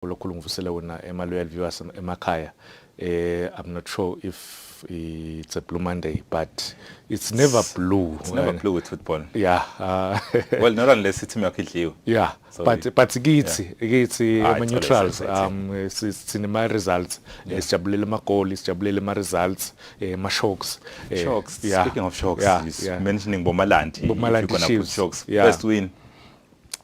ulokhulu ngivusele wona emaLoyal Viewers emakhaya eh i'm not sure if it's a blue monday but it's never blue it's never blue with football yeah uh, well not unless it's yakho idliwe yeah Sorry. but but kithi kithi ama neutrals um sithina ama results sijabulele ama goal sijabulele ama results ama eh, shocks eh, shocks speaking of shocks mentioning bomalandi bomalandi shocks first win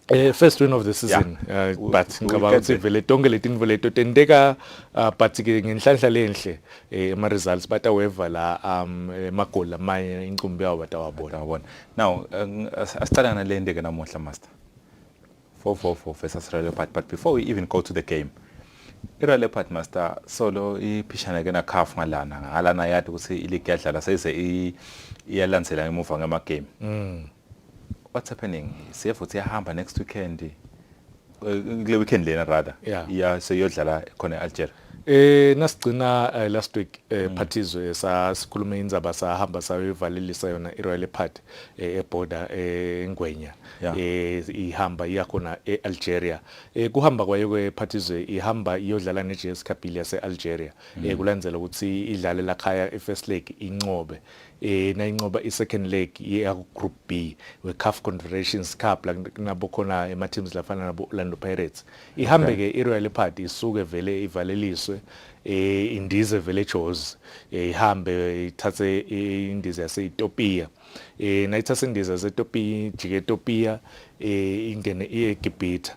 Eh first win of the season yeah. uh, but ngicabanga ukuthi vele tonke letinto leto tenteka uh, but ke ngenhlanhla lenhle eh ama results bataweva la um emagoli amanye incumbi yawo batawabona yabona now uh, asicala nalende ke namuhla master 444 versus Real Leopard but before we even go to the game iReal Leopard master solo iphishana ke na CAF ngalana ngalana yathi ukuthi iligi yadlala seze iyalandzela ngemuva ngama game mm. what's happening CF uthi yahamba next weekend eh, kule weekend lena rather Yeah. iya seyodlala khona e-Algeria Eh nasigcina eh, last week eh, Mm. phathizwe sasikhuluma indzaba sahamba sayovalelisa yona iRoyal Party eh, eborder eh, eNgwenya Yeah. eh ihamba iya khona eAlgeria eh kuhamba kwayo kwephathizwe ihamba iyodlala neJS Kabylie yaseAlgeria Mm. eh kulandzela ukuthi idlale lakhaya iFirst League inqobe eh nayinqoba i-second leg ye-group b we-caf confederations cup la kunabo khona ema-teams lafana nabo-orlando pirates ihambe-ke i-royal leopard isuke vele ivaleliswe eh indize vele jozi eh, ihambe ithathe indize yase-ethiopia eh nayithatha indize yase-ethiopia ijike ethiopia eh ingene iye egibhitha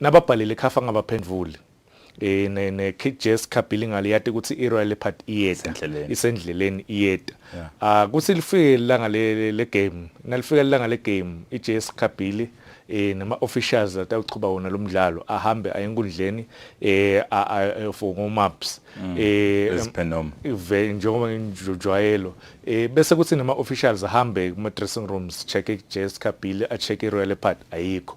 nababhalile khafa ngabaphendvuli eh ne ne Jess Kabilingale yati ukuthi iRoyal Leopard iyeta isendleleni iyeta ah kuthi lifike ilanga le le game nalifika ilanga le game iJess Kabili eh nama officials atawuqhuba wona lo mdlalo ahambe aye enkundleni eh for ngo maps mm. eh esiphenom ive njengoba njojwayelo eh bese kuthi nama officials ahambe kuma dressing rooms check iJess Kabili a check iRoyal Leopard ayikho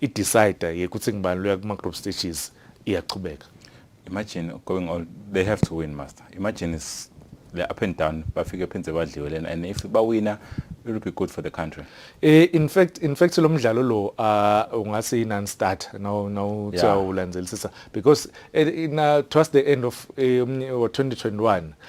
i-decider yekuthi ngibani loya kuma-group stages iyachubeka imagine going all they have to win master imagine is le up and down bafike phenze badliwe lena and if bawina it will be good for the country eh in fact in fact lo mdlalo lo uh, ungase i non start no no uthiwa ulandelisisa because eh, in uh, towards the end of eh, umnye- wa 2021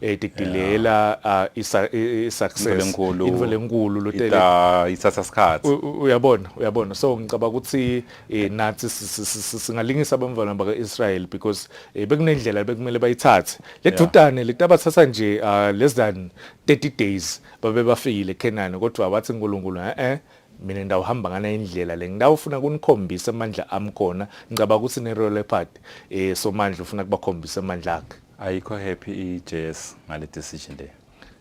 eh didilela ah, isa- i- i- success Into lenkulu. into lenkulu lotele Ita isasa sikhathi. U- u- uyabona uyabona so ngicabanga ukuthi eh, nathi si- si- si- si- singalingisa abamvana baka-israel because eh, bekunendlela bekumele bayithathe le Yeah. dudane le tabathatha nje ah, less than 30 days babe bafikile kenani kodwa wathi nkulunkulu e-e mina ndawuhamba ngana indlela le ngidawufuna kunikhombisa amandla ami khona ngicabanga ukuthi ne-royal leopard um somandla ufuna kubakhombisa amandla akhe ayikho happy iJS ngale decision le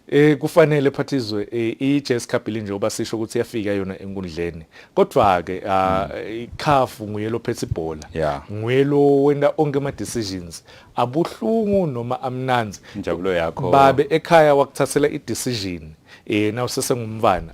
eh kufanele phathizwe eh, iJS Cup linje uba sisho ukuthi yafika yona enkundleni kodwa ke ah, hmm. ikhafu nguye lophethe ibhola nguye lo wenda onke ama decisions abuhlungu noma amnanzi injabulo yakho babe ekhaya wakuthathela i decision eh nawusesengumvana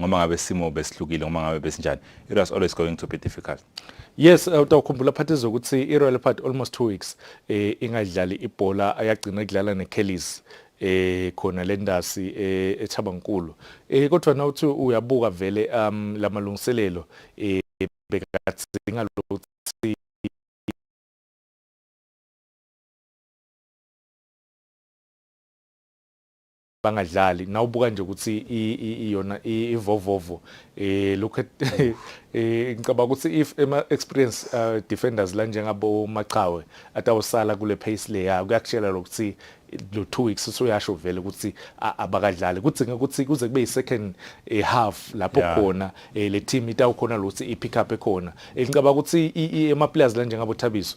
ngoba ngabe simo besihlukile ngoba ngabe besinjani it was always going to be difficult yes eh, utawukhumbula phathi zokuthi i-royal party almost two weeks eh, ingadlali ibhola ayagcina kudlala ne-kellis eh khona lendasi eh, eThabankulu eh kodwa na uthi uyabuka vele um lamalungiselelo eh bekathi ngalokuthi bangadlali nawubuka nje ukuthi iyona ivovovo eh look at eh ngicabanga ukuthi if ema experience uh, defenders la njengabo Maqhawe atawusala kule pace le ya kuyakutshela lokuthi lo 2 weeks usuyasho vele ukuthi abakadlali kuthi ukuthi kuze kube isecond eh, half lapho khona eh, le team itawukhona lokuthi ipick up ekhona ngicabanga ukuthi ema players la njengabo Thabiso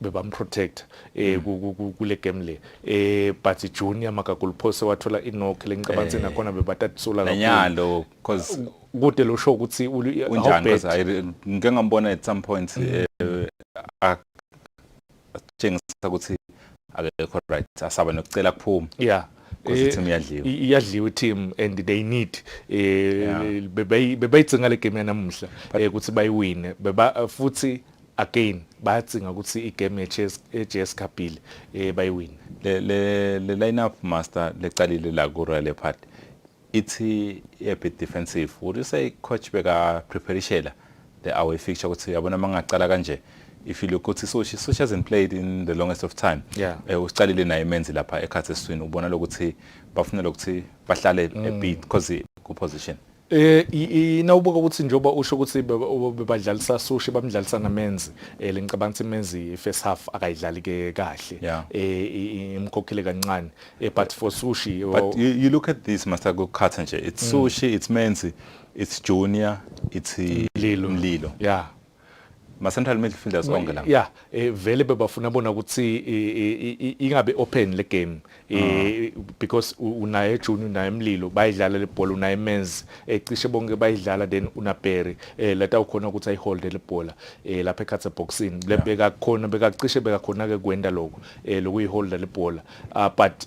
bebamprotect eh mm. kule game le eh but junior makagulphose wathola inock lencabanga eh. nakhona bebatatsula kakhulu nanyalo because kude lo show ukuthi unjani because ngike ngambona at some point mm. eh, atshengisa ukuthi akekho right asaba nokucela kuphuma yeah because eh, team iyadliwa iyadliwa team and they need eh bebayithenga le game yanamuhla eh, ukuthi bayiwine beba futhi again bayacinga ukuthi igame ye-JS Kabili eh bayiwina le le lineup master leqalile la ku Royal Park ithi a bit defensive would you say coach beka preparishela the away fixture ukuthi yabona mangaqala kanje if you look ukuthi Soshi Soshi hasn't played in the longest of time yeah. eh usiqalile naye menzi lapha ekhathi eswini ubona lokuthi bafuna lokuthi bahlale mm. a bit because ku position Eh inawubuka ukuthi njoba usho ukuthi bebadlalisa sushi bamdlalisa namenzi eh lengicabanga ukuthi menzi first half akayidlali ke kahle eh imkhokhile kancane eh but for sushi oh. but you, you look at this master go cut nje it's mm. sushi it's menzi it's junior it's mlilo mlilo yeah ma central midfielders onke la yeah eh, vele bebafuna bona ukuthi ingabe open le game eh, ah. because unaye Junior unaye Mlilo bayidlala le bhola unaye Menz ecishe eh, bonke bayidlala then unaBerry leta ukhona ukuthi ayihold le bhola lapha ekhathe boxing lebeka khona bekacishe beka khona ke kwenda lokho lokuyihold le bhola ah, but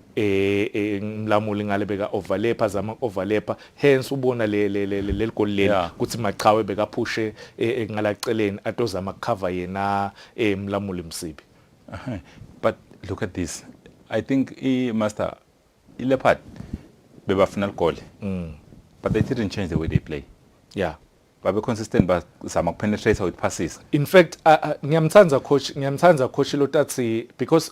eh, eh mlamuli ngale beka overlap azama overlap hence ubona le leligoli leli ukuthi maqhawe bekaphushe eh, eh, ngalaceleni atozama cover yena eh mlamuli msibi but look at this i think i master i leopard bebafuna ligoli mm. but they didn't change the way they play yeah babe consistent bazama kupenetrate with passes in fact ngiyamthanda coach ngiyamthanda coach lotatsi because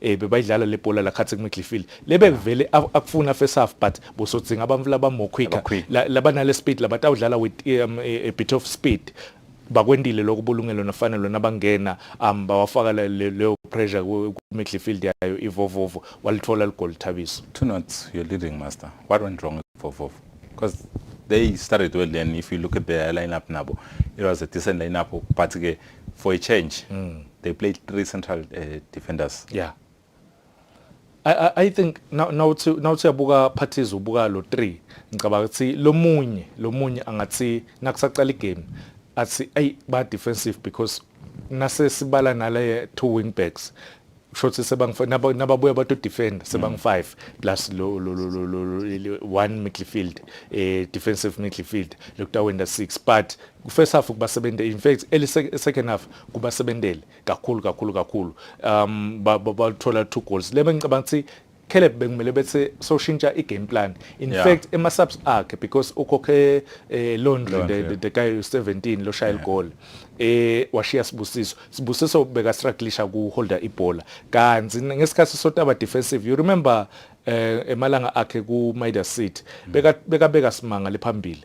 eh bebayidlala le bhola la khathi kumidlifile lebe kuvele akufuna first half but bosodzinga abantu laba more quicker laba nale speed laba tawudlala with um, a, a bit of speed bakwendile lokho bulungelo nafanele lona bangena um bawafaka leyo pressure ku midfield yayo ivovovo walithola ligoli thabiso two notes you're leading master what went wrong with vovovo because they started well then if you look at the lineup nabo it was a decent lineup but ke for a change mm. they play three central uh, defenders yeah I, I, I think now now to now to yabuka parties ubuka lo 3 ngicabanga ukuthi lomunye lomunye angathi nakusaqala igame athi ay ba defensive because nase sibala nale two wing backs shothi sebangu nabo nababuya bato defend sebangu 5 mm. plus lo lo lo lo, lo one midfield eh defensive midfield lokutawenda 6 but first half kubasebenzele in fact eli second half kubasebenzele kakhulu kakhulu kakhulu um bathola two goals lebe ngicabanga ukuthi Caleb bekumele bethi soshintsha i-game plan in yeah. fact ema-subs akhe because ukhokhe eh, laundry the, the, the guy 17 loshaya yeah. igoli eh washiya sibusiso sibusiso beka strugglisha ku holder ibhola kanti ngesikhathi sotaba defensive you remember eh emalanga akhe ku Midas City mm. beka beka beka simanga lephambili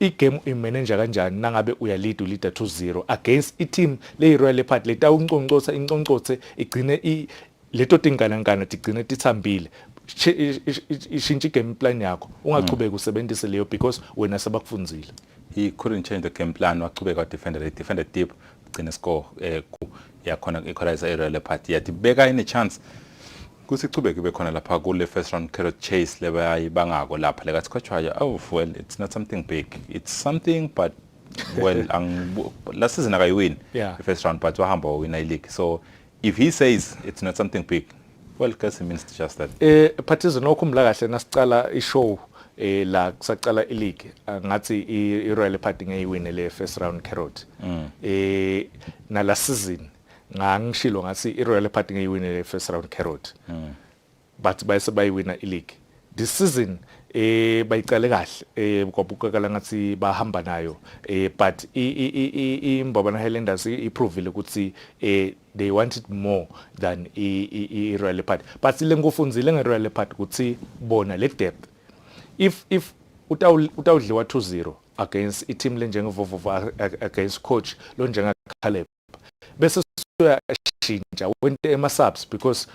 igame uyimenenja kanjani nangabe uyalead uleader 2-0 against i-team leyi-royal leopard letawunconcotsa inconcotse igcine leto tinganankana tigcine titsambile ishintsha i-game plan yakho ungachubeki usebenzise leyo because wena sebakufunzile he couldn't change the game plan wachubeka wadefendela idefenda deep gcine score um yakhona equalizer i-royal leopard yathi beka ine-chance kusichube kube khona lapha kule first round carrot chase lebayibangako lapha lekasikhatshwayo oh well it's not something big it's something but well last season akayiwini yeah. the first round but wahamba wawina ileague so if he says it's not something big well kasi means just that eh phathizo nokhumbula kahle nasicala ishow eh la kusaqala ileague ngathi iRoyal Party ngeyiwine le first round carrot mm. eh nala season ngangishilo ngathi iRoyal Party ngeyiwine le first round carrot mm. but bayise bayiwina ileague this season eh bayiqale kahle eh kwabukakala ngathi bahamba nayo eh but imbabana Highlanders iprovile ukuthi eh they wanted more than i Royal Leopard but lengofunzile nge Royal Leopard ukuthi bona le depth if if utawudliwa 2-0 against i team lenjengevovovo against coach lo njenga Caleb bese uyashintsha wente ema-subs because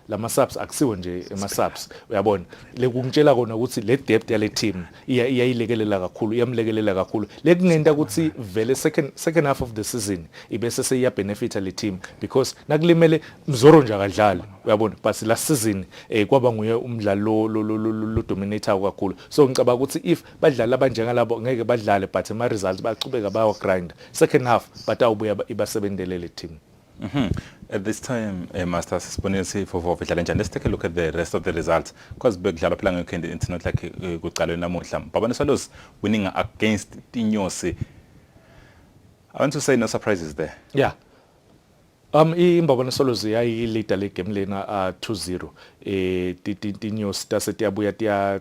lama-subs akusiwo nje ema-subs uyabona lekungitshela kona ukuthi le depth yale team iyayilekelela kakhulu iyamlekelela kakhulu lekungenta ukuthi vele second second half of the season ibese seyiyabenefita le team because nakulimele mzoro nje akadlali uyabona but last season eh kwaba nguye umdlalo lo dominator kakhulu so ngicabanga ukuthi if badlali abanjengalabo ngeke badlale but ama results baqhubeka bawa grind second half batawubuya ibasebenzele le team Mm -hmm. At this time, uh, Master, sisibonile sifofo idlala njani. Let's take a look at the rest of the results because bekudlalwa phela ngekhindi it's not like eh, kuqalwe namuhla. Babane Swallows winning against Tinyosi. I want to say no surprises there. Yeah. Um imbabana Swallows yayi leader le game lena uh, 2-0. Eh tinyosi tase tiyabuya tiya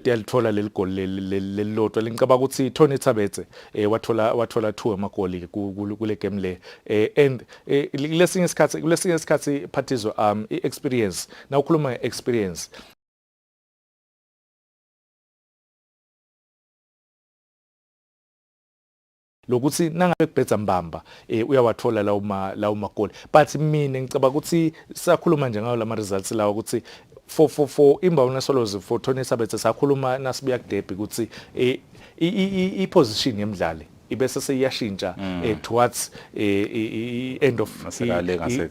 yalithola leli goli lelilodwa lengicabanga ukuthi Tony Thabetse eh, wathola wathola two amagoli kule game le eh, and eh, lesinye isikhathi kulesinye isikhathi phathizo um i experience na ukhuluma nge experience lokuthi nangabe kubhedza mbamba eh uyawathola lawo ma lawo magoli but mina ngicabanga ukuthi sakhuluma nje ngayo lama results lawa ukuthi for for for imbawona solozi for Tony Sabethe sakhuluma nasibuya kudebi ukuthi eh i position yemdlali ibese seyashintsha mm. eh, towards eh, end of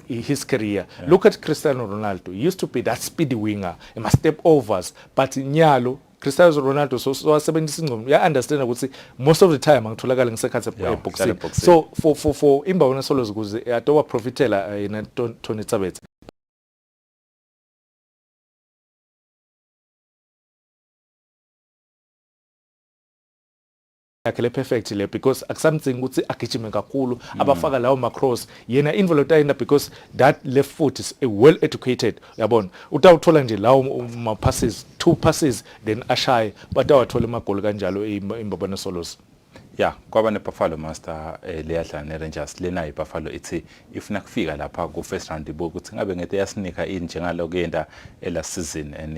his career yeah. look at Cristiano Ronaldo he used to be that speedy winger ema step overs but nyalo Cristiano Ronaldo so wasebenzisa ingqondo ya understand ukuthi most of the time angitholakala ngisekhathi eboxing so for for for imba wona solo zikuze adoba profitela eh, yena Tony Tsabethe yakhe le perfect le because akusamdzingi ukuthi agijime kakhulu mm. abafaka lawo macross yena invelo tayina because that left foot is a well educated yabona utawuthola nje lawo ma passes two passes then ashaye batawathola amagoli kanjalo imbabana solos ya kwaba nebuffalo master eh, leyadlala nerangers lena ibuffalo ithi ifuna kufika lapha ku-first round ibuke ukuthi ngabe ngete yasinika ini njengaloku yenda elast season and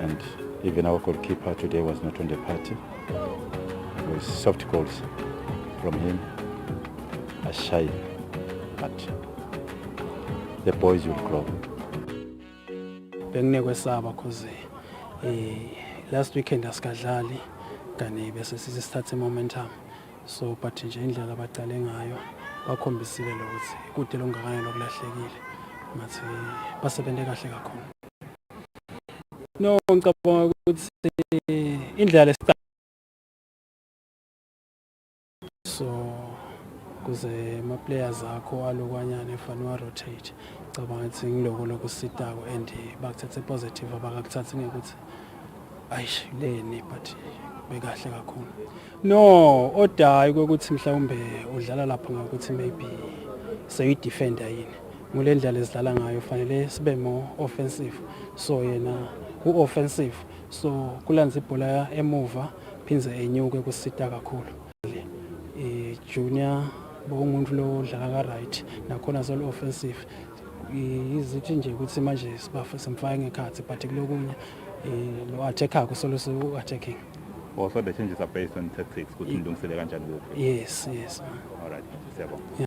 And even our goalkeeper today was not on the party. It was soft goals from him. A shy, but the boys will grow. Benginekwesaba because uh, eh, last weekend asikadlali kanti bese sisithathe momentum. So but nje indlela abaqale ngayo bakhombisile lokuthi kude longakanani lokulahlekile. Ngathi basebenze kahle kakhulu. No ngicabanga ukuthi indlela lesiqala so kuze ama players akho alokwanyana efana wa rotate ngicabanga ukuthi ngiloko lokusitako and bakuthathe positive abakakuthathi ngekuthi ayish leni but bekahle kakhulu no odayi ukuthi mhlawumbe udlala lapho ngokuthi maybe seyidefender yini ngule ndlela esidlala ngayo fanele sibe more offensive so yena u-offensive so kulanza ibhola emuva phindze enyuke kusita kakhulu i-junior bokungumuntu lo odlala ka-right nakhona solu-offensive izithi nje ukuthi manje simfake ngekhathi but kulokunye lo attackako solusi u-attacking or so the changes are based on tactics ukuthi ngilungisele kanjani kuphi yes yes all right siyabonga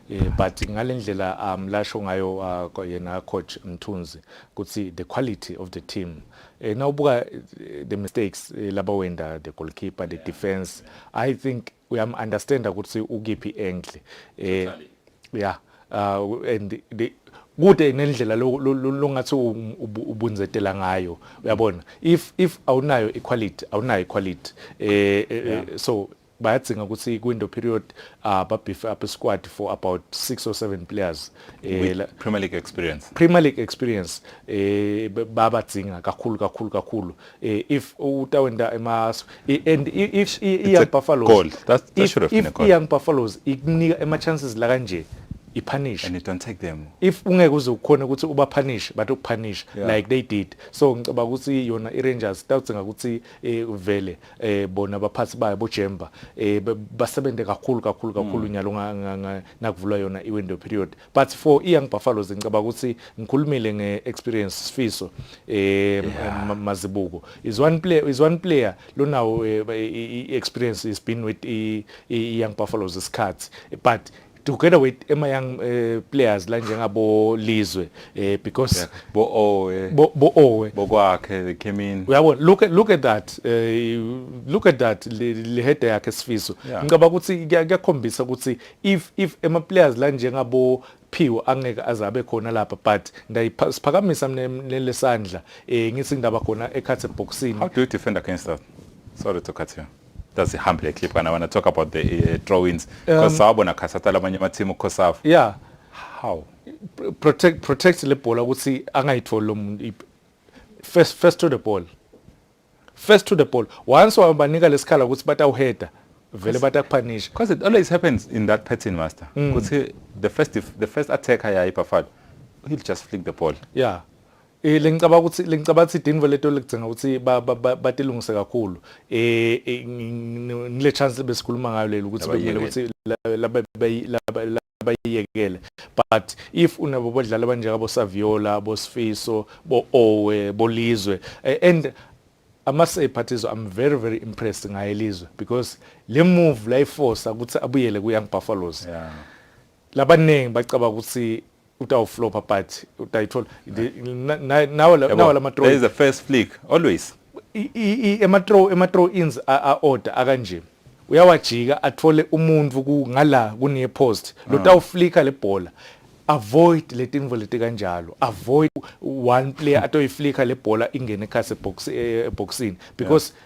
Eh, but ngalendlela um lasho ngayo uh, yena coach Mthunzi ukuthi the quality of the team eh, now buka eh, the mistakes eh, laba wenda the goalkeeper the defense i think we am understand ukuthi ukiphi angle eh yeah uh, and the kude nendlela longathi ubunzetela ngayo uyabona if if awunayo equality awunayo equality eh, eh, eh so bayadzinga ukuthi kwi-window period uh, babhife up squad for about six or seven players eh, Premier League experience Premier League experience eh, babadzinga kakhulu kakhulu kakhulu eh, if utawenda emas and if i-young buffaloes goal. That, that if, if i-young buffaloes ikunika ema-chances la kanje ipunish and you don't take them if ungeke uze ukhona ukuthi uba punish but ukupunish yeah. like they did so ngicabanga ukuthi yona iRangers tawudzinga ukuthi eh, vele eh bona abaphathi bayo boJemba eh basebenze kakhulu kakhulu kakhulu mm. nyalo nakuvulwa yona iwindow period but for iYoung Buffaloes ngicabanga ukuthi ngikhulumile ngeexperience sifiso eh mazibuko is one player is one player lonawo eh, experience is been with iYoung Buffaloes isikhathi but together with ema young uh, players la njengabo Lizwe eh, because yeah. bo Owe bo, bo Owe bokwakhe they came in uyabona look at look at that uh, look at that le, le head yakhe sifiso yeah. ngicaba ukuthi kuyakhombisa ukuthi if if ema players la njengabo Phiwo angeke azabe khona lapha but ndayiphakamisa mina lesandla eh ngithi ngindaba khona ekhathe boxing how do you defend against that sorry to cut you does a humble clip kana wanna talk about the uh, drawings because um, sawabona khasata lamanye ama team ukhosafa yeah how protect protect le bhola ukuthi angayitholi lo muntu first first to the ball first to the ball once wabanika lesikhala ukuthi batawuheader vele batakuphanisha because it always happens in that pattern master mm. ukuthi the first the first attacker yayi Buffalo he'll just flick the ball yeah Eh lengicaba ukuthi lengicaba ukuthi idinvo leto ligcinga ukuthi batilungise kakhulu. Eh, eh ngile chance besikhuluma ngayo leli ukuthi bekumele ukuthi laba laba bayiyekele but if unabo bodlala banjeka bo Saviola bo Sifiso bo Owe bo Lizwe eh, and I must say Phathizo I'm very very impressed ngaye Lizwe because le move la iforce ukuthi abuyele ku Young Buffaloes. Yeah. Labaningi bacaba ukuthi utawuflopa but utayithola nawo nawo lama throw is the first flick always ema throw ema throw ins a order akanje uyawajika athole umuntu ku ngala kune post lo ah. tawuflika le bhola avoid letinvo leti kanjalo avoid one player atoyiflika le bhola ingene ekhase box eh, eboxini because yeah.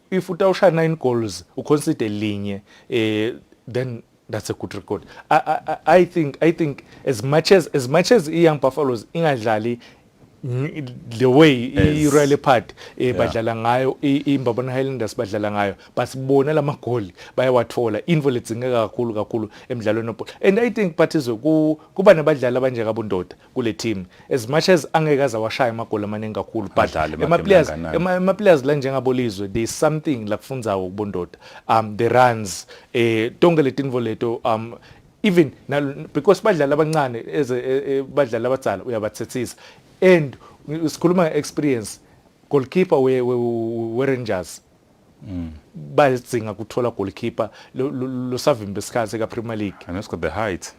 If utawushaya 9 goals uconcede linye eh then that's a good record I, I, I think I think as much as as much as iYoung Buffaloes ingadlali the way i-Royal Leopard eh badlala ngayo iMbabane Highlanders badlala ngayo basibona lamagoli bayawathola info ledzingeka kakhulu kakhulu emidlalweni webhola and i think Patizwe kuba nabadlali abanje kabundoda kule team as much as angeke aze washaya amagoli amaningi kakhulu but emaplayers emaplayers la njengabolizwe there is something la kufunzayo kubondoda um the runs eh tonke letinvo leto um even because badlali abancane as eh, eh, badlali abadzala uyabathethisa and sikhuluma experience goalkeeper we, we, we Rangers Mm. bayidzinga kuthola goalkeeper losavimba isikhathi ka Premier League and also the height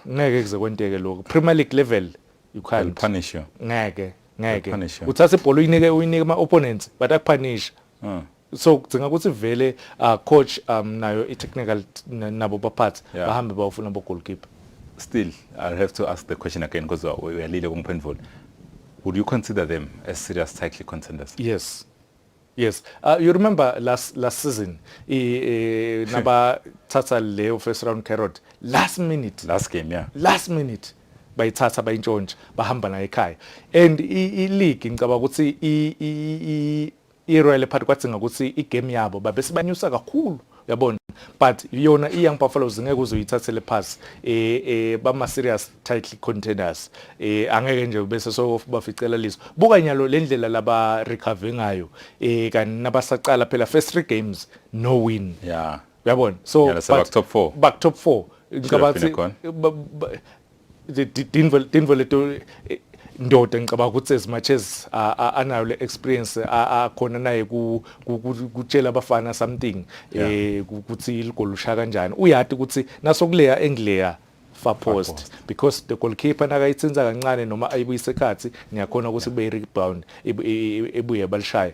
ngeke kuze kwenteke lokho Premier League level you can't punish you ngeke ngeke uthatha ibhola uyinike uyinike ama opponents but akuphanisha ah. so kudzinga ukuthi vele uh, coach um nayo i technical nabo baphathi yeah. bahambe bawufuna bo goalkeeper still i'll have to ask the question again because uyalile kungiphendvula would you consider them as serious title contenders yes Yes. Uh, you remember last last season i e, naba thatha leyo first round carrot last minute. Last game yeah. Last minute bayithatha bayintshontsha bahamba nayo ekhaya. And i league ngicabanga ukuthi i i i Royal Party kwadzinga ukuthi i game yabo babe sibanyusa kakhulu. yabona but yona i-young buffaloes ngeke uzoyithathele phasi um eh, um eh, bama-serious title contenders um eh, angeke nje bese sobaficela liso buka nyalo le ndlela laba recover ngayo um kanti nabasaqala phela first three games no win yeah uyabona so baku-top four baku-top four ngicabanga ukuthi dinvo leto eh, ndoda ngicabanga ukuthi as much as anayo le experience akhona naye kutshela abafana something eh ukuthi iligolo usha kanjani uyati ukuthi nasokuleya engileya far post because the goalkeeper nakayithinza kancane noma ayibuyise ekhathi ngiyakhona ukuthi kube i-rebound ebuye balishaya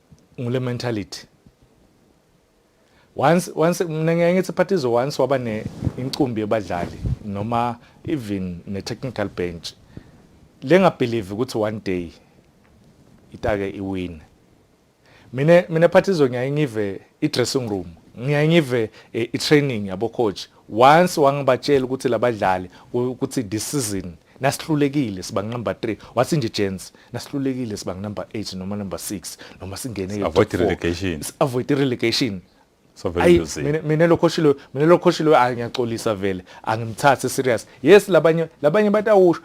ngule mentality once once mina ngeke ngithi parties once waba ne incumbi yebadlali noma even ne technical bench lenga believe ukuthi one day itake iwin mina mina parties ngiyaye ngive i dressing room ngiyaye ngive eh, i training yabo coach once wangibatshela ukuthi labadlali ukuthi this season nasihlulekile siba number 3 wathi nje gents nasihlulekile siba number 8 noma number 6 noma singene avoid relegation avoid relegation so very easy mina mina lokho shilo mina lokho shilo angiyaxolisa vele angimthathe serious yes labanye labanye batawusha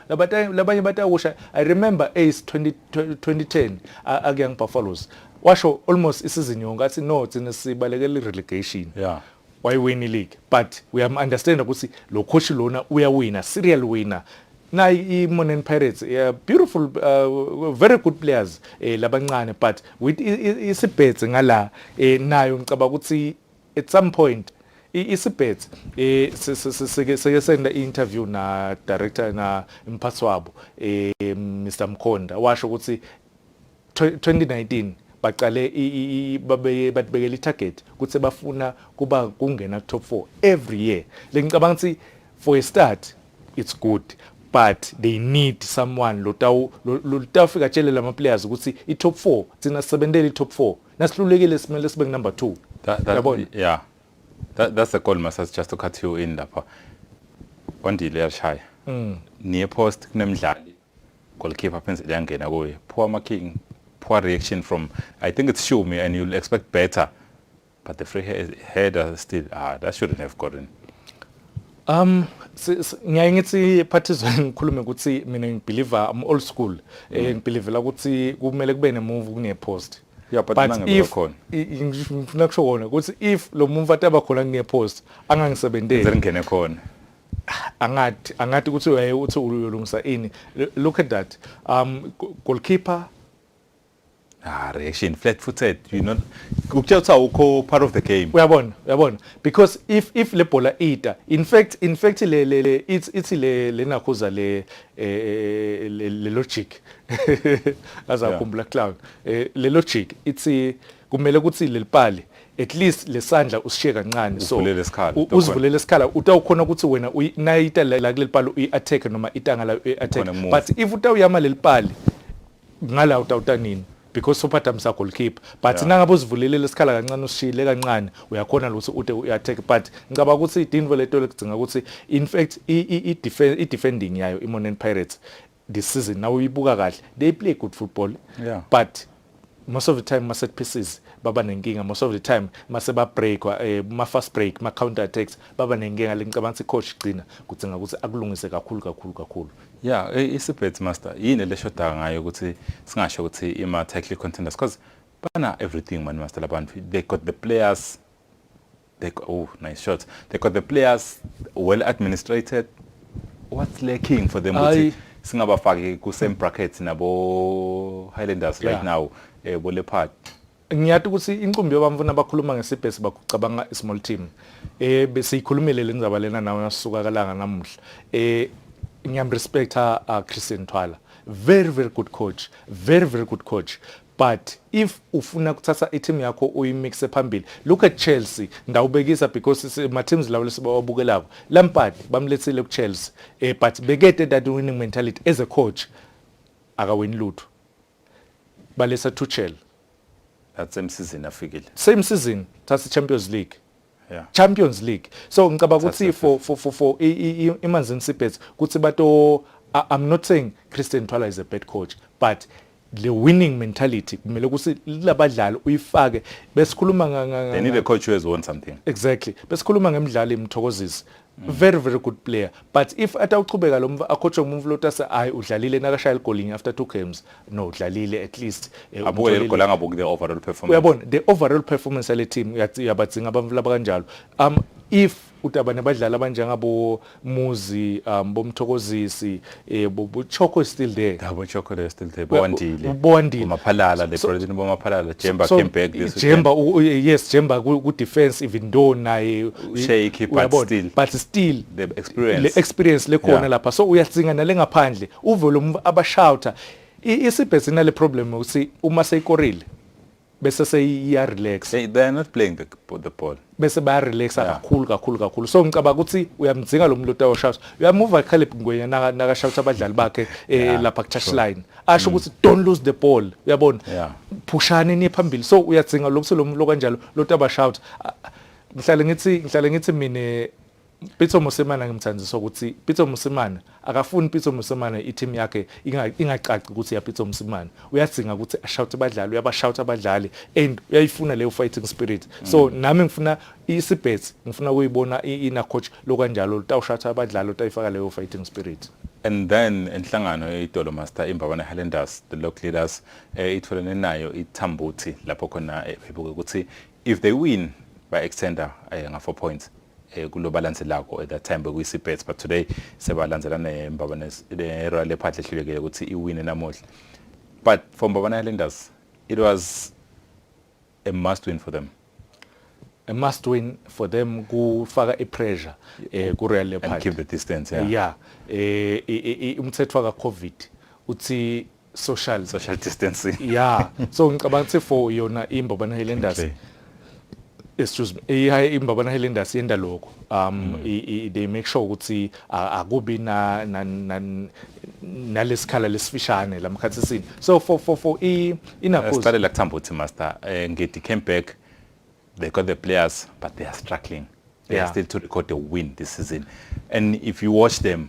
labanye batawusha i remember ace 20, 2010 akuyang buffaloes washo almost isizini yonke athi no thina sibalekela irelegation yeah. wayiwina ileague but uyamunderstanda ukuthi lo coach lona uyawina serial winner nayi i-monan pirates yeah, beautiful uh, very good players eh, labancane but with isibhethe ngala eh, nayo ngicaba ukuthi at some point isibhethe eh sike senda interview na director na mphathi wabo eh Mr Mkhonda washo ukuthi 2019 baqale batibekela i-target ukuthi bafuna kuba kungena ku-top four every year le ngicabanga ukuthi for a start it's good but they need someone lotawufika atshele lama players ukuthi i-top four thina sisebentele i-top four nasihlulekile simele sibe ku-number two yabona yeah that, that's the goal masas just to cut you in lapha ondile yashaya mm. niye post kunemidlali Goalkeeper phensi liyangena kuye. Poor marking, poor reaction from I think it's Shumi and you'll expect better. But the free header still ah that shouldn't have gotten. Um ngiyaye ngithi phathizwe ngikhulume ukuthi mina ngibeliever am old school eh mm. ngibelievela ukuthi kumele kube ne move kune post yeah but nangebekhona ngifuna kusho kona ukuthi if lo muntu ataba khona nginepost angangisebenzeli ngene khona angathi angathi ukuthi uyaye uthi uyolungisa ini look at that um goalkeeper ah reaction flat footed you know ukutshela ukuthi awukho part of the game uyabona uyabona because if if le bhola ita in fact in fact le le, le it's it's le lenakhuza le eh, eh, eh, le, le logic azakhumbula yeah. clown eh, le logic it's kumele ukuthi lelipali at least lesandla usishiye kancane so uzivulele isikhala utawukhona ukuthi wena nayita la kulelipali uyi-attack noma itanga layo uyi-attack but if utawuyama lelipali ngala utawuta nini because sophatha msa goalkeeper but yeah. nangabe uzivulelele isikhala kancane usishile kancane uyakhona ukuthi ude uyattack but ngicabanga ukuthi idinvo leto lekudzinga ukuthi in fact i-defending yayo i-monen pirates this season now uyibuka kahle they play good football yeah. but most of the time ma set pieces baba nenkinga most of the time mase ba break eh, ma fast break ma counter attacks baba nenkinga lengicabanga ukuthi coach gcina kudzinga ukuthi akulungise kakhulu kakhulu kakhulu yeah eh, isibet master yini leshoda ngayo ukuthi singasho ukuthi ima tactical contenders because bana everything man master labantu they got the players They got, oh, nice shots. They got the players well administrated. What's lacking for them? I, singabafaki ku same brackets nabo Highlanders yeah. right now eh bo Leopard ngiyati ukuthi inqumbi yobamfu nabakhuluma ngesibhesi bakucabanga small team eh besiyikhulumile le ndzaba lena nawe nasuka kalanga namuhla eh ngiyam respecta uh, Christian Twala very very good coach very very good coach But if ufuna kuthatha i-team yakho uyimixe phambili, look at Chelsea, ndawubekisa because ma-teams lawo lesibawabukelako. Lampard bamlethile ku-Chelsea, eh, but bekede that winning mentality as a coach akawini lutho. Balesa Tuchel. That's same season afikile. Same season, thatha i-Champions League. Yeah. Champions League so ngicabanga ukuthi for for for, for iManzini Seabirds kuthi bato I'm not saying Christian Twala is a bad coach but le winning mentality kumele ukuthi labadlali uyifake besikhuluma nga they need a coach who has won something exactly besikhuluma ngemidlalo imthokozisi Mm. very very good player but if atawuchubeka lo akhotshwe umuntu lota se hayi udlalile nakashaya igolinye after two games no udlalile at least eh, abuke leli gola ngabuki the overall performance uyabona the overall performance yale team uyabadzinga abantu laba kanjalo um if uthi abantu abadlali abanjengabo Muzi um bomthokozisi eh bochoko is still there yeah bochoko is still there bondile bondile maphalala le president bomaphalala jemba so, came back this jemba yes jemba ku defense even though naye shake but still but still the experience le experience le khona lapha so uyatsinga nale ngaphandle uvelo abashouter isibhesina le problem uthi uma seyikorile bese seyiya relax they, they are not playing the, the ball bese baya relax yeah. kakhulu kakhulu kakhulu so ngicabanga ukuthi uyamdzinga lo muntu otawo shouts uyamuva Caleb Ngwenya naka naka shouts abadlali bakhe eh, yeah, lapha ku touch sure. line asho mm. ukuthi mm. don't lose the ball uyabona yeah. phushani ni phambili so uyadzinga lokuthi lo muntu lokanjalo lo taba shout ngihlale ngithi ngihlale ngithi mina Pitso Mosimane ngimthandisa ukuthi Pitso Mosimane akafuni Pitso Mosimane i-team yakhe ingacaci ukuthi ya Pitso Mosimane uyadzinga ukuthi ashawute abadlali uyabashawuta abadlali and uyayifuna leyo fighting spirit so mm. nami ngifuna isibhethi ngifuna ukuyibona ina coach lokanjalo utawushawuta abadlali utayifaka leyo fighting spirit and then inhlangano yeitolo master imbabane highlanders the local leaders eh, itholene nayo ithambuthi lapho khona eh, bebuke ukuthi if they win by extender eh, nga 4 points eh, kulo balance lako at that time bekuyi bets but today sebalandzela nembaba ne Royal Leopard lehlulekile ukuthi iwine namuhla but for Mbabane Highlanders it was a must win for them a must win for them kufaka ipressure eh ku Royal Leopard and keep the distance yeah yeah eh umthetho ka covid uthi social social distancing yeah so ngicabanga ukuthi for yona imbabana highlanders okay. excuse me iyaye imbabana highlanders yenda lokho um mm. i, i, they make sure ukuthi akubi na, na, na nalesikhala lesifishane lamkhathi sini so for for for i inakuza siqale la kuthamba uthi master eh, ngidi came back they got the players but they are struggling they yeah. are still to record a win this season and if you watch them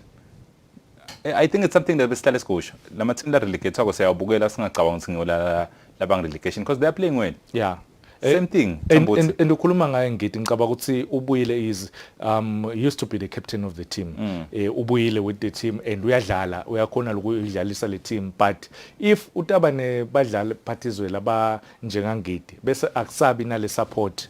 Eh, I think it's something that besihlale sikusho lama team la relegate wako siyawabukela singacabanga ukuthi ngiyolala labang relegation because they are playing well yeah eh, same thing and ukhuluma ngaye ngidi ngicaba ukuthi ubuyile is um used to be the captain of the team mm. eh ubuyile with the team and uyadlala uyakhona lokuyidlalisa le team but if utaba ne badlali phathizwe laba njengangidi bese akusabi nale support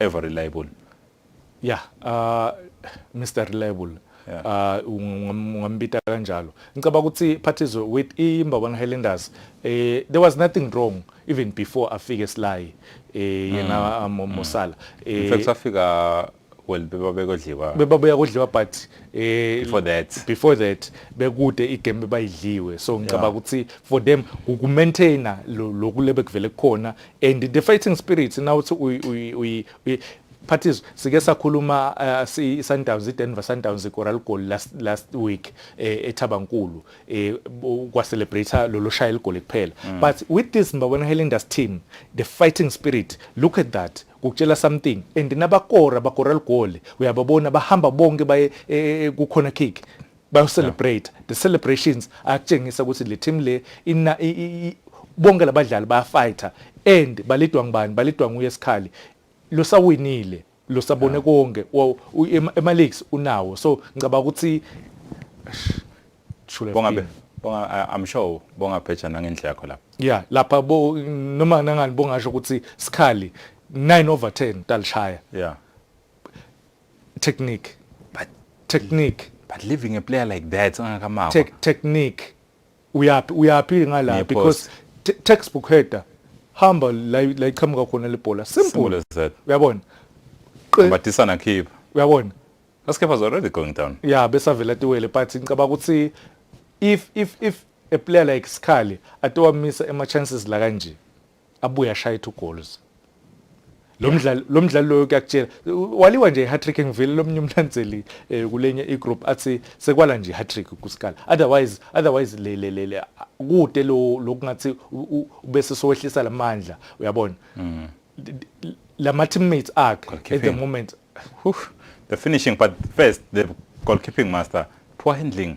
ever reliable yeah uh Mr reliable yeah. uh ungambita kanjalo ngicaba ukuthi phathizwe with imbabana Highlanders eh there was nothing wrong even before afike Sly eh yena mm. um, Mosala mm. eh in fact afika well bebabe kodliwa bebabuya kodliwa but eh before that before that bekude igame bayidliwe so ngicabanga ukuthi for them uku maintainer lokulebe kuvele kukhona and the fighting spirit nawuthi Phathiso sike sakhuluma uh, si Sundowns iDenver Sundowns iGoral goal last last week eh, eThabankulu eh, kwa celebrate lolu shaya igoal kuphela mm. but with this Mbabona Highlanders team the fighting spirit look at that kukutshela something and nabakora bakora ligoli uyababona bahamba bonke baye eh, kukhona kick bayocelebrate the celebrations akutshengisa ukuthi le team le ina i- i- i- bonke labadlali bayafighter and balidwa ngubani balidwa nguye esikhali losawinile losabone konke wa- u- ema- ema-leagues unawo so ngicabanga ukuthi Shule bonga be- Fini. bonga I- i'm sure bonga pheja nangendlela yakho lapho ya lapha bo noma nangani bongasho ukuthi sikhali 9 over 10 talishaya yeah technique but technique but leaving a player like that angakamawa Te technique uyaphi uyaphi ngala because textbook header hamba la la iqhamuka khona lebhola simple uyabona batisana khipha uyabona Laskep was already going down yeah besavela tiwele but ngicaba ukuthi if if if a player like Sikhali atowamisa ema chances la kanje abuye ashaye two goals lo mdlalo lo mdlalo loyo kuyakutshela waliwa nje i-hattrick engivele lomnye umlandzeli eh, kulenye i-group athi sekwala nje i-hattrick kusikala otherwise otherwise le le le le- kude lo lokungathi u- u- ubese sowehlisa lamandla uyabona Mm. lama teammates akhe at the Goalkeeping. moment Whew. the finishing but first the goalkeeping master poor handling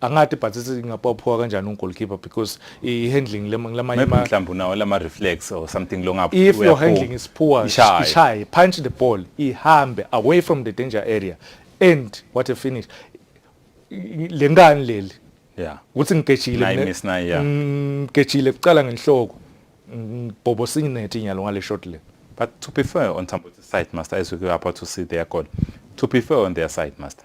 angati but singapophiwa kanjani ungolkeeper because i-handling lamanye ma mhlawumbe unawo lama reflex or something longaphi if your handling is poor ishaye punch the ball ihambe away from the danger area and what a finish lengane leli yeah ukuthi ngigejile miss nayi yeah ngigejile kuqala ngenhloko bhobo sinethi inyalo ngale shot le but to be fair on Tambo's side master as we go up to see their goal to be fair on their side master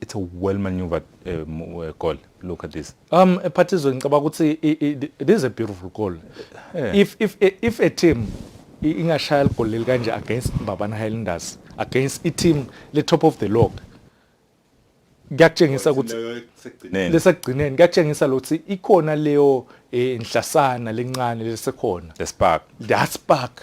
it's a well maneuvered uh, uh, goal look at this um ephathizwe ngicabanga ukuthi it is a beautiful goal yeah. if if if a team ingashaya ligoli leli kanje against Mbabana Highlanders against i team le top of the log kuyakutshengisa ukuthi lesagcineni kuyakutshengisa lokuthi ikhona leyo eh, inhlasana lencane lesekhona the spark that spark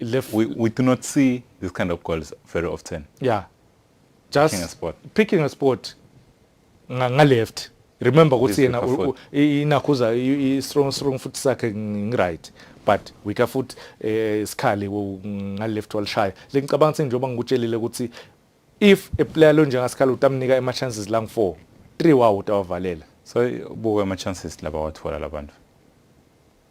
left. We, we do not see this kind of goals very often. Yeah. Just picking a spot. Picking a spot nga left. Remember ukuthi yena inakhuza i strong strong foot sakhe ngiright but weaker foot eh, isikhali nga left walishaya. Lengicabanga ukuthi njengoba ngikutshelile ukuthi if a player lo njengasikhala utamnika ama chances lang 4 3 wawo utawavalela. So buka ama chances laba wathola labantu.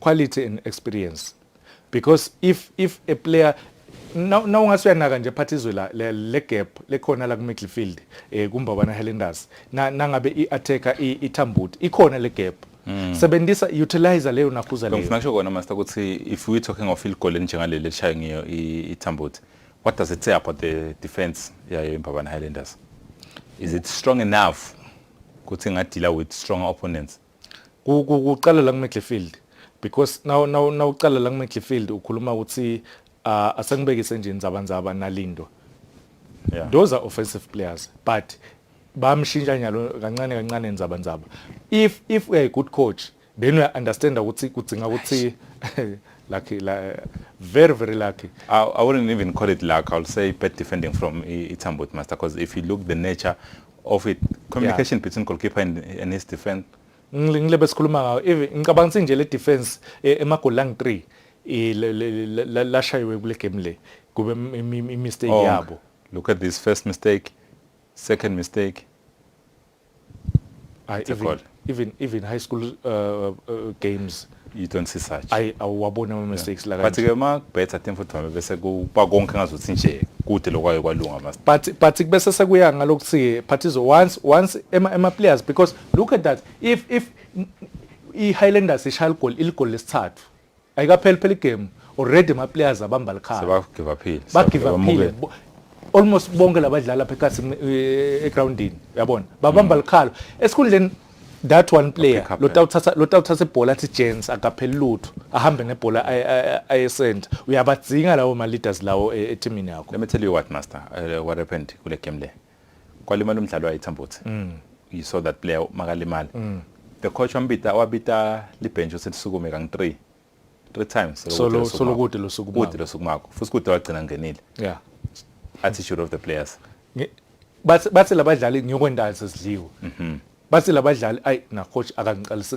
quality and experience because if if a player na ungase uyanaka nje phathi izwe la le gap lekhona la ku midfield eh kumbabana Highlanders na nangabe i attacker ithambuti ikhona le gap Mm. sebenzisa utilize leyo nakhuza leyo ngifuna kusho kona master ukuthi if we talking of field goal njengaleli eshaye ngiyo ithambuti what does it say about the defense yayo imbabana Highlanders is it strong enough ukuthi ngadila with stronger opponents kuqala la kumidlifield because now now nawuqala la kumidlifield ukhuluma ukuthi uh, asengibekise nje inzabanzaba nalindo yeah. those are offensive players but bamshintsha nyalo kancane kancane inzabanzaba if if we are a good coach then we understand ukuthi kudzinga ukuthi lucky la, very very lucky I, I wouldn't even call it luck I'll say bad defending from Itambut master because if you look the nature of it communication yeah. between goalkeeper and, and his defense ngile besikhuluma ngayo even ngicabanga ukuthi nje le defense eh, emagoli lang 3 eh, lashayiwe kule game le kube imistake oh, yabo look at this first mistake second mistake ay even even even high school uh, uh, uh games you don't see such i awabona ama mistakes yeah. la but ke ma better team futhi mama bese kuba konke ngazothi nje kude lokwayo kwalunga mas but but kubese sekuya ngalokuthi parties once once ema ema players because look at that if if i Highlanders ishaya igoli iligoli lesithathu ayikapheli phela igame already ama players abamba likhaya sebagive aphile bagive aphile almost bonke labadlali lapha ekhasi eh, egroundini yabona babamba mm. likhalo esikhundleni that one player lotawuthatha lotawuthatha ibhola athi Jens akapheli lutho ahambe nebhola ayesend uyabadzinga lawo ma leaders lawo eh, etimini yakho let me tell you what master uh, what happened kule game le kwalimala umdlali wayethambuthi mm. you saw that player makalimala mm. the coach wambita wabita libhenji uselisukume kang 3 three times solo solo kude losuku kude losuku makho futhi kude wagcina ngenile yeah attitude of the players bathi bathi labadlali ngiyokwendazi sidliwe mhm. bathi labadlali ay na coach akangiqalisi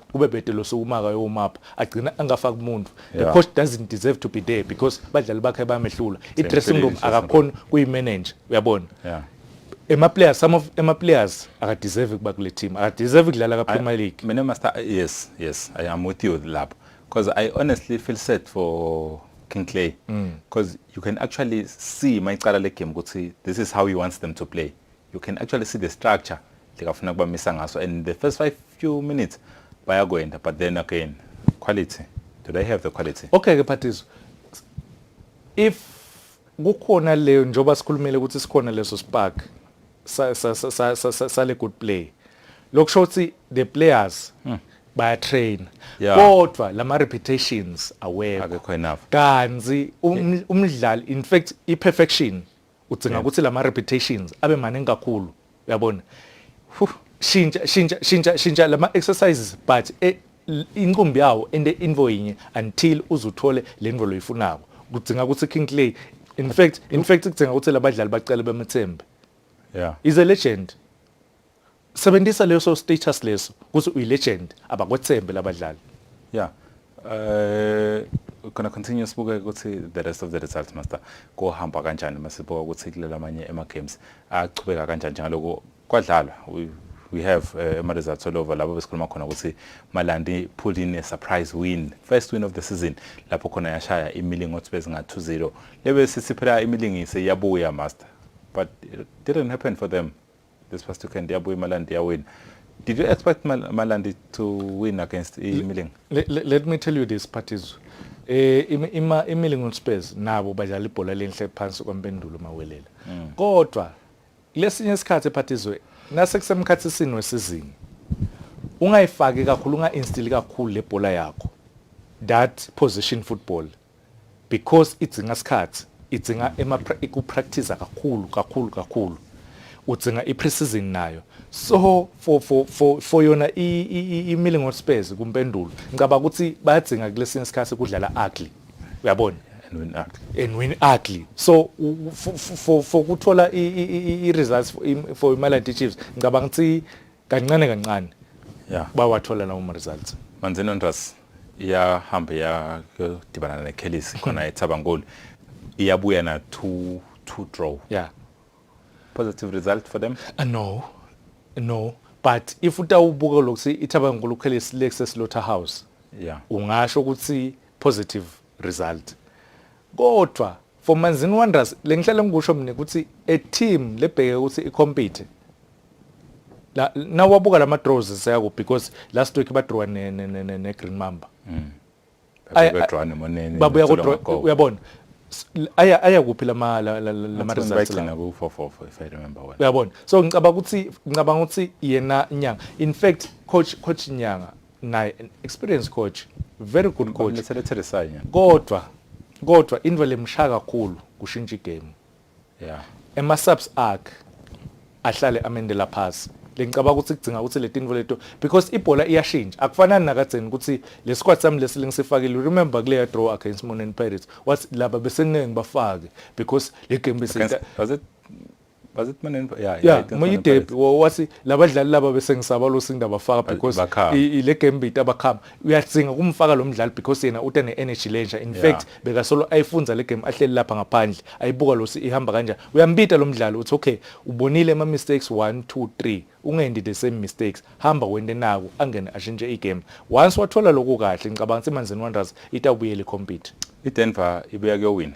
kube bhede losukumaka yomapha agcina angafaki umuntu the coach doesn't deserve to be there because badlali bakhe bayamehlula i-dressing room akakhona kuyi-manager uyabona ema players some of ema players akadeserve kuba kule team akadeserve ukudlala ka Premier League mina master yes yes i am with you lapho because i honestly feel sad for King Clay because mm. you can actually see mayicala le game ukuthi this is how he wants them to play you can actually see the structure lekafuna kubamisa ngaso and the first five few minutes bayakwenda but then again quality do they have the quality okay ke phathiso if kukhona leyo njoba sikhulumile ukuthi sikhona leso spark sa sa sa sa sa le good play lokusho ukuthi the players hmm. baya train kodwa lama reputations awekho akekho enough kanzi um, umdlali in fact i perfection udzinga ukuthi la ma-repetitions abe maningi kakhulu uyabona shintsha shintsha shintsha shintsha la ma-exercises but e, inqumbi yawo ende info yinye until uzuthole le nvo loyifunako kudzinga ukuthi king clay in fact in fact kudzinga ukuthi labadlali bacele bemethembe yeah is a legend Sebenzisa leso status leso ukuthi uyilegend abakwethembe labadlali. Yeah. Uh gonna continue sibuke ukuthi the rest of the results master kohamba kanjani masibuka ukuthi kulela amanye ema games achubeka kanjani njengaloko kwadlalwa we have uh, ama results all over lapho besikhuluma khona ukuthi Malandi pulled in a surprise win first win of the season lapho khona yashaya imilingo othi bezinga 2-0 lebe sithi phela imilingise yabuya master but it didn't happen for them This past weekend yabuya iMalandi yawina. Did you expect Mal Malandi to win against Imiling? Let, let, let me tell you this Patizwe. Eh ima Imiling Spurs nabo badlala ibhola lenhle phansi kwampendulo mawelela. Mm. Kodwa lesinye isikhathi Patizwe nase kusemkhathi sini wesizini. Ungayifaki kakhulu unga instill kakhulu lebhola yakho. That position football because idzinga sikhathi idzinga ikupractice kakhulu kakhulu kakhulu udzinga i-preseason nayo so for for for for yona i-milling on spares kumpendulo ngicabanga ukuthi bayadzinga kulesinye isikhathi kudlala ugly uyabona and win ugly and win ugly so for for for kuthola i-results for imaland chiefs ngicabanga ukuthi kancane kancane yeah. bawathola lawo ma-results manzini ontras iyahamba iyadibana nekhelisi khona ethabangoli iyabuya na two, two draw yeah. positive result for them uh, no no but if utawubuka lokuthi ithabangoli ukhelisi lekuse slaughter house yeah. ungasho ukuthi positive result kodwa For Manzini Wanderers lengihlale ngikusho mina ukuthi a team lebheke ukuthi i compete la nawabuka lama draws seyako because last week badrawa ne ne ne, ne Green Mamba mm. babuya monene babuya kodwa uyabona aya aya kuphi lama lama results bayigcina ku 444 if i remember well uyabona so ngicabanga ukuthi ngicabanga ukuthi yena nyanga in fact coach coach nyanga naye experience coach very good coach kodwa kodwa into lemshaya kakhulu kushintsha igame yeah ema subs akhe ahlale amendela phasi lengicabanga ukuthi kudzinga ukuthi letinto leto because ibhola iyashintsha akufanani nakadzeni ukuthi le squad sami lesi lengisifakile remember kuleya draw against Monen Pirates wathi laba besengeke ngibafake because le game bese was it Manenva yeah yeah, yeah moyidebi wathi labadlali laba bese ngisaba lo sinda bafaka because ile game bit abakhama uyatsinga kumfaka lo mdlali because yena uta ne energy lenja in fact beka solo ayifunza le game ahleli lapha ngaphandle ayibuka lo ihamba kanjani uyambita lo mdlali uthi okay ubonile ama mistakes 1 2 3 ungendi the same mistakes hamba wende naku angene ashintshe igame once wathola lokho kahle ngicabanga ukuthi imanzini wonders itawubuyela compete idenver ibuya kuyowina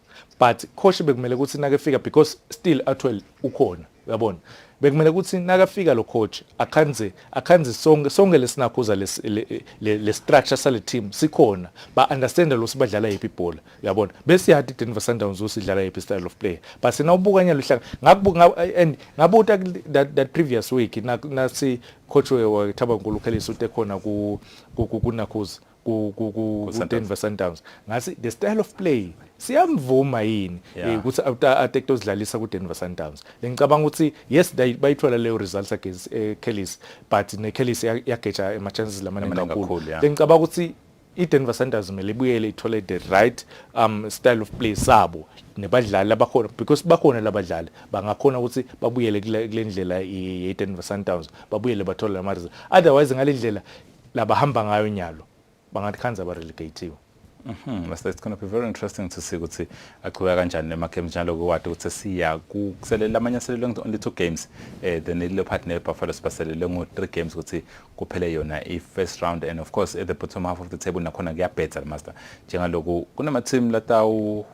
but khoshe bekumele ukuthi nakefika because still atwell ukhona uyabona bekumele ukuthi nakafika lo coach akhanze akhanze sonke sonke lesinakhuza le, le, le, le structure sale team sikhona ba understand lo sibadlala yipi ibhola uyabona bese yathi Denver Sundowns usidlala yipi style of play but sina ubukanya luhlanga ngakubuka and ngabuta that, that previous week nasi coach we Thabankulu Khelisa utekhona ku kunakhuza ku ku ku Denver Sundowns ngathi the style of play siyamvuma yini eh, ukuthi atekto zidlalisa ku Denver Sundowns ngicabanga ukuthi yes bayithola leyo results against eh, Kellis but ne Kellis yageja ama chances lamane kakhulu ngicabanga ukuthi iDenver Sundowns kumele ibuyele ithole the right um style of play sabo nebadlali abakhona because bakhona labadlali bangakhona ukuthi babuyele kule ndlela yeDenver Sundowns babuyele bathole lamarizini otherwise ngalendlela labahamba ngayo nyalo bangathi khanza abarelegatiwe Mhm Mr it's going to be very interesting to see ukuthi aqhubeka kanjani nema games njalo kuwadi ukuthi siya kuselela amanye aselele ngi only two games eh then ile part ne Buffalo sibaselele ngo three games ukuthi kuphele yona i first round and of course at the bottom half of the table nakhona kuyabhetha le master njengaloku kunama team latawu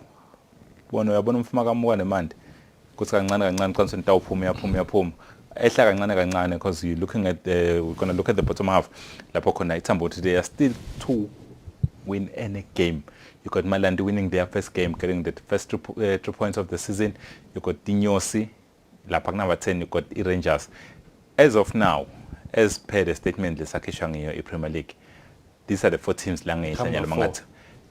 bona uyabona umfuma kamuka nemandi kuthi kancane kancane qinisweni tawuphuma uyaphuma uyaphuma ehla kancane kancane because you looking at the we're gonna look at the bottom half lapho khona ithambo ukuthi they are still to win any game you got Malandi winning their first game getting the first two, uh, two points of the season you got Dinyosi lapha kunaba 10 you got i-Rangers as of now as per the statement lesakhishwa ngiyo i-Premier League these are the four teams la ngehla Come nyalo on, four. mangathi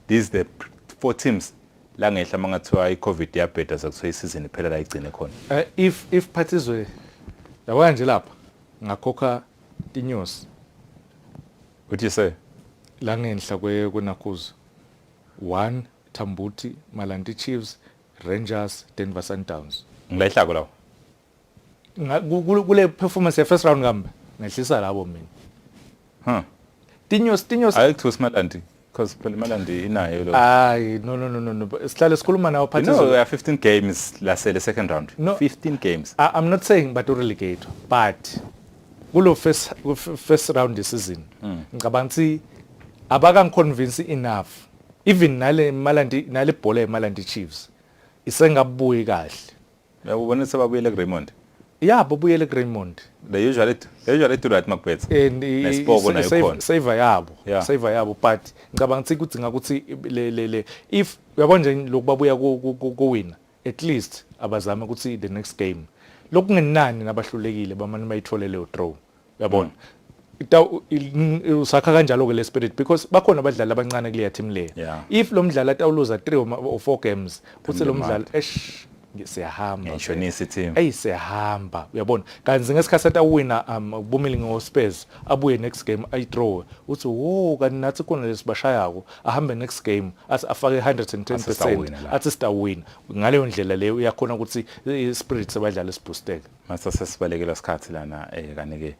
these the p- four teams la ngehla mangathiwa i-covid yabheda sekuthiwa isizini iphela la igcine khona Eh, if if phathizwe yabona nje lapha ngakhokha inyosi what you say la ngenhla kwe kwenakuzo one thambuthi malanti chiefs rangers denver sundowns ngilayihlako lawo kule performance first round kambe ngehlisa labo mina huh tinyo tinyo ayikho simalandi because phela imalandi inayo lo hayi no no no no sihlale sikhuluma nawo phathi no we are 15 games lasele second round no, 15 games I, i'm not saying but relegate but kulo first first round this season hmm. ngicabanga ukuthi abakangiconvince enough even nale malandi nale bhola yemalandi chiefs isengabuyi kahle Uyakubona sebabuyele kuRaymond. Yeah, babuyele kuRaymond. They usually they usually do right makubetha. And nesipoko nayo khona. Save yabo. Yeah. Save yabo but ngicabanga ukuthi kudinga ukuthi le le le if uyabona nje lokubabuya kuwina at least abazame ukuthi the next game. Lokungenani nabahlulekile bamane bayithole leyo draw. yabona usakha kanjalo-ke le spirit because bakhona abadlali abancane kuleya team leyo yeah. if lo mdlali atawuluza three or four games uthi lo mdlali esh siyahamba ngishonisa i-team eyi siyahamba uyabona kanti ngesikhathi atawina um ubumile ngospurs abuye next game ayidraw uthi wo kanti nathi khona lesibashayako ahambe next game athi afake 110% athi sitawina ngaleyo ndlela leyo uyakhona ukuthi i-spirit sebadlali sibhusteke Mase sesibalekela isikhathi lana eh kanike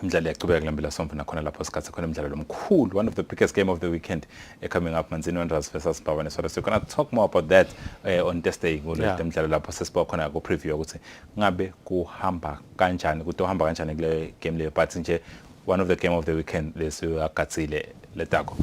imidlalo iyaqhubeka kule mpela sombona khona lapho sikhathi khona imidlalo lomkhulu one of the biggest game of the weekend uh, coming up Manzini Wanderers versus Bhavane Swallows so we're going to talk more about that uh, on Thursday ngolo yeah. mdlalo lapho sesiba khona ku preview ukuthi ngabe kuhamba kanjani kutohamba kanjani kule game leyo but nje one of the game of the weekend lesiyagatsile letako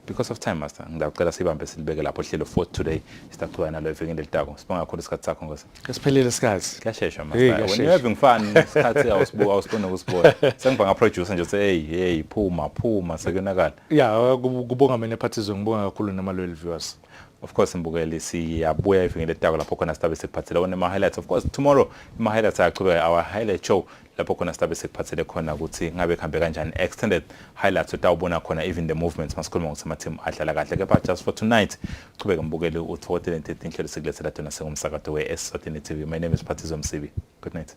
because of time master ngiyacela sibambe silibeke lapho hlelo for today sitaqhubeka nalo evikini elitako sibonga kakhulu isikhathi sakho ngosi esiphelile isikhathi kuyashesha master when you having fun isikhathi awusibuka awusibona ukusibona sengiba nga producer nje uthi hey hey phuma phuma sekuyonakala yeah kubonga mina phathizwe ngibonga kakhulu nama loyal viewers of course mbukeli siyabuya evikini elitako lapho khona sitabe sekuphathele one ma highlights of course tomorrow ama highlights ayaqhubeka our highlight show lapho khona silabe sekuphathele khona ukuthi ngabe kuhambe kanjani extended highlights utawubona khona even the movements masikhuluma ukuthi ama-team adlala kahle kepha just for tonight qhubeke mbukeli uthokotele ntethe inhlelo sikulethela tona sengumsakato we-esisatini tv my name is phathizo msibi good night